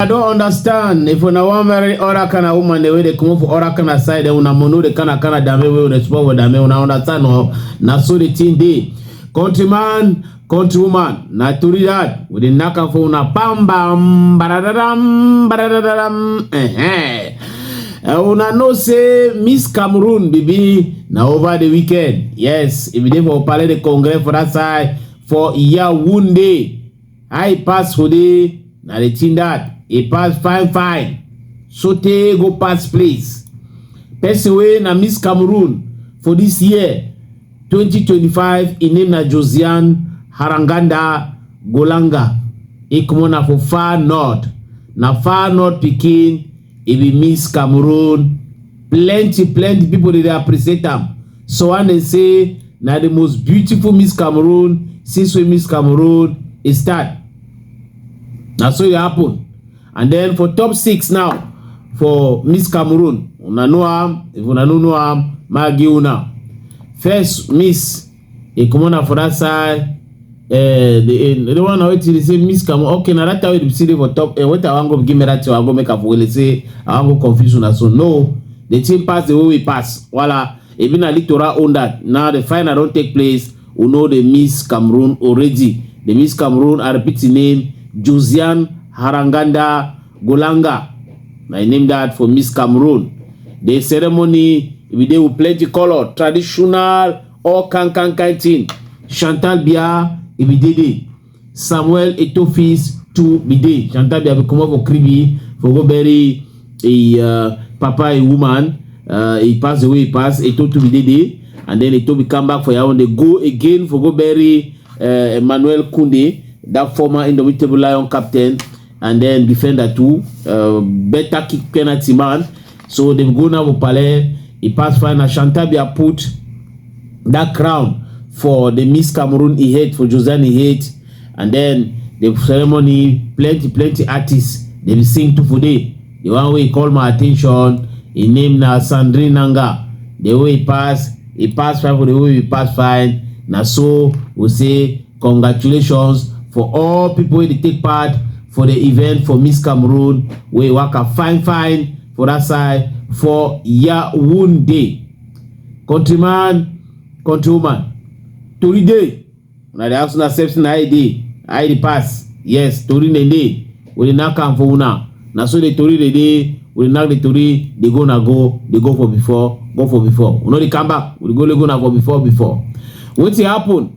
I don't understand. If una wan marry other kind of woman, the way they come for other kind of side, then una mono the kind of kind of dame wey una spoil with dame, una understand no? Na so the thing dey. Countryman, countrywoman, na tori that. We dey knack am for una bam bam, badadadam, badadadam, eh eh. And una know say Miss Cameroon baby na over the weekend. Yes, if you dey for Palais de Congrès for that side for Yaoundé, I pass for the na the thing that e pass fine fine. Sote go pass place. Person wey na Miss Cameroon for this year 2025 im name na Josiane Haranganda Golanga. E comot na for far north. Na far north pikin e be miss cameroon plenty plenty people dey dey appreciate am so one dey say na the most beautiful miss cameroon since wey miss cameroon e start na so e happen and then for top six now for miss cameroon una know am if una no know am ma give una first miss e comot na for that side uh, the, uh, the one wey dey say miss kamo okay na that time wey dey see dey for top uh, wait i wan go give me that thing i go make am for wele say i wan go confuse una so no the thing pass the way we pass wala ebi na litora own that now the final don take place we know dey miss cameroon already dey miss cameroon i repeat the name josiane haranganda Golanga, na im name that for Miss Cameroon. The ceremony we dey with plenty color, traditional, all kind kind kind thing. Chantal Biya e be dey there. Samuel Etofis too be there. Chantal Biya be comot for Kribi for go bury a uh, papa a woman. Uh, he pass away, he pass. Eto too be dey there. And then Eto be come back for Yawon. They go again for go bury uh, Emmanuel Kunde, that former indomitable lion captain. and then defender too. Uh, better kick penalty man. So they go now Opale. He pass final. Shantabia put that crown for the Miss Cameroon he hate for Joseanne he hate. And then the ceremony, plenty, plenty artists. They be sing to today. The one way call my attention, he name na Sandrine Nanga. The way he pass, he pass fine for the way he pass fine. Now so we say Congratulations for all people wey dey take part for the event for Miss Cameroon wey waka fine fine for that side for Yaounde. Countryman, countrywoman, tori dey una dey ask una sef say na how e dey, how e dey pass? Yes, tori na dey. We dey knack am for una. Na so the tori dey dey. We dey knack the tori dey go na go, dey go for before, go for before. We no dey come back. We dey go let go na for before before. Wetin happen?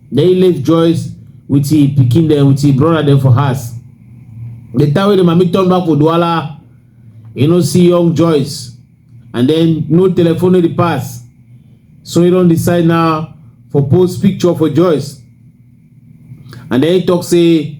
Then he left Joyce with his pikin dem with his brother dem for house. The time wey the mami turn back for Douala, he no see young Joyce and then no telephone no dey pass. So he don decide now for post picture for Joyce. And then he talk say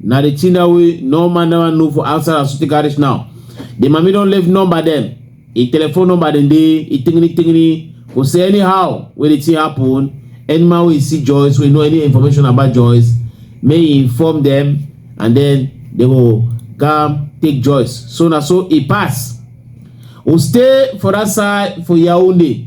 na the thing that we no man never know for outside as we take out this now the mami don leave number dem e telephone number dem dey e tingini tingini go say anyhow wey the thing happen any man wey see joyce wey know any information about joyce may e inform dem and then they go come take joyce so na so e pass we stay for that side for yaounde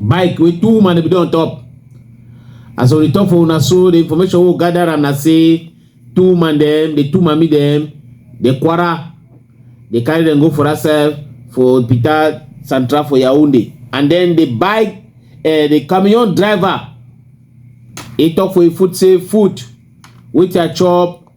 bike wey two woman bin dey on top as we return for una so the information wey we gather am na say two woman dem the two mami dem dey kwara dey carry dem go for that side for peter central for yaounde and then the bike uh, the camion driver he talk for him foot say food wetin i chop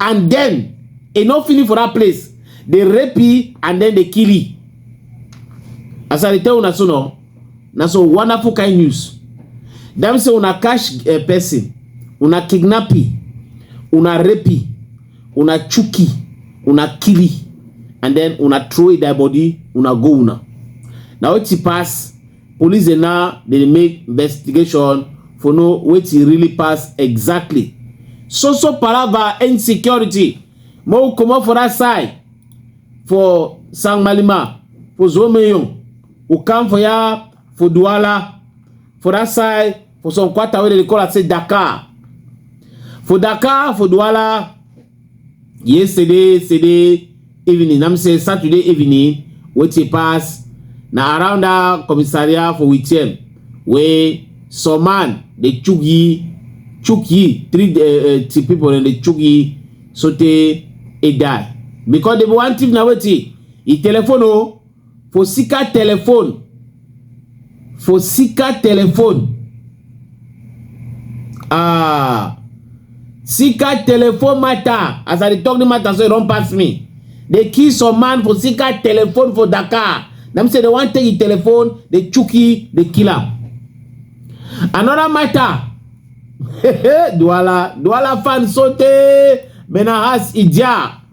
and then e no finish for that place dey rape e and then dey kill e as i dey tell una so no na so wonderful kind news dem say una catch a eh, person una kidnap e una rape e una chook e una kill e and then una throw e die body una go una na wetin pass Police dey now dey make investigation for know wetin really pass exactly. So so palava insecurity make we comot for that side for Sangmalima for Zomeyon we come for ya for Douala for that side for some quarter wey dem dey call am say Dakar. For Dakar for Douala yesterday yesterday evening na me say saturday evening wetin pass na around that commissariat for witiem wey some man dey chook ye chook ye three uh, uh, people dem dey chook ye sotey e die because dem wan thief na wetin e telephone o. Oh, Fosika telefon. Fosika telefon. Ah. Sika telefon matter. As I dey talk the matter, so e don pass me. They kill some man for Sika telefon for Dakar. Dem say they wan take the telefon, they chuki, they kill am. Another matter. Douala, Douala fan sote, Benahas Ija.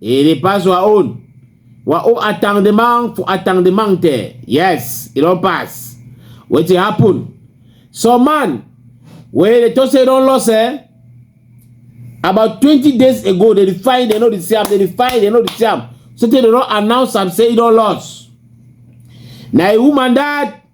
Il est pas wa on. Wa o attendement for attendement there. Yes, it don't pass. Wetin happen? Some man wey dey talk say don loss eh? About twenty days ago, they dey find they no dey see am, they dey find they no dey see am. So tey they don announce am say e don loss. Na a woman that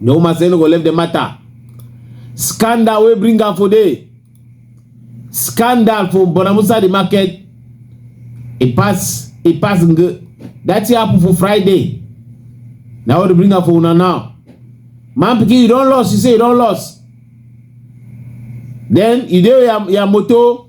No man say no go leave the matter. Scandal wey bring am for there. Scandal for Bonamusa the market. E pass e pass nge. That thing happen for Friday. Na what dey bring am for una now. Man pikin you don lost you say you don lost. Then you dey your your motor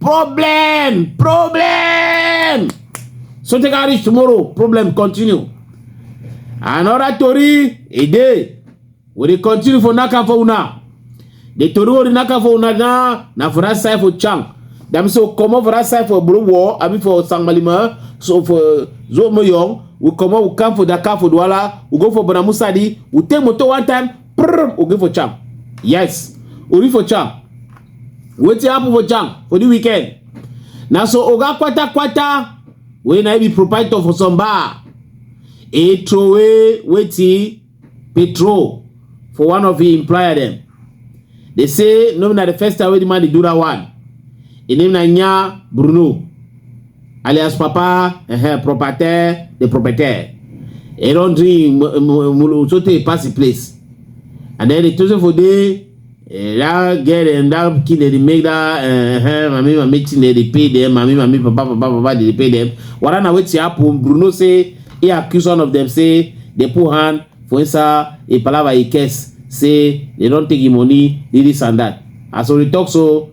Problem! Problem! So take a reach tomorrow. Problem continue. Another tori a day. We dey continue for Naka for una. The tori wey dey Naka for una na na for that side for Chang. That means so comot for that side for Borowo, I mean for Sangmalima, so for Zomoyong, we comot we come for Dakar for Douala, we go for Bonamusadi, we take motor one time, prim oge for charm yes ori for charm wetin happen for charm for the weekend na so oga kwatakwata wey na be proprietor for some bar e throway wetin petrol for one of im employer dem dey say no be na the first time wey the man dey do that one im name na nya bruno alias papa uh-huh, propriétaire the propriétaire e don drink mulu so tey pass the place and then the tosin for dey eh, that girl dem that pikin dem dey make that uh, mami mami thing dem dey pay dem mami mami papa papa papa dey pay dem wada na wetin happen bruno say he accuse one of them say they put hand for inside a palava he curse say they don take him money this and that as we talk so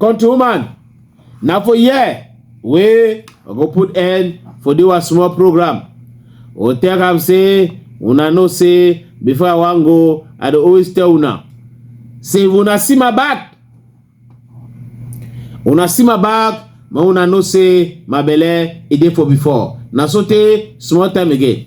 Country woman, na for here wey I go put end for the one small program. O tell am say una know say before I wan go, I dey always tell una say if una see my back, una see my back, ma una know say my belle e dey for before. Na so tey small time again.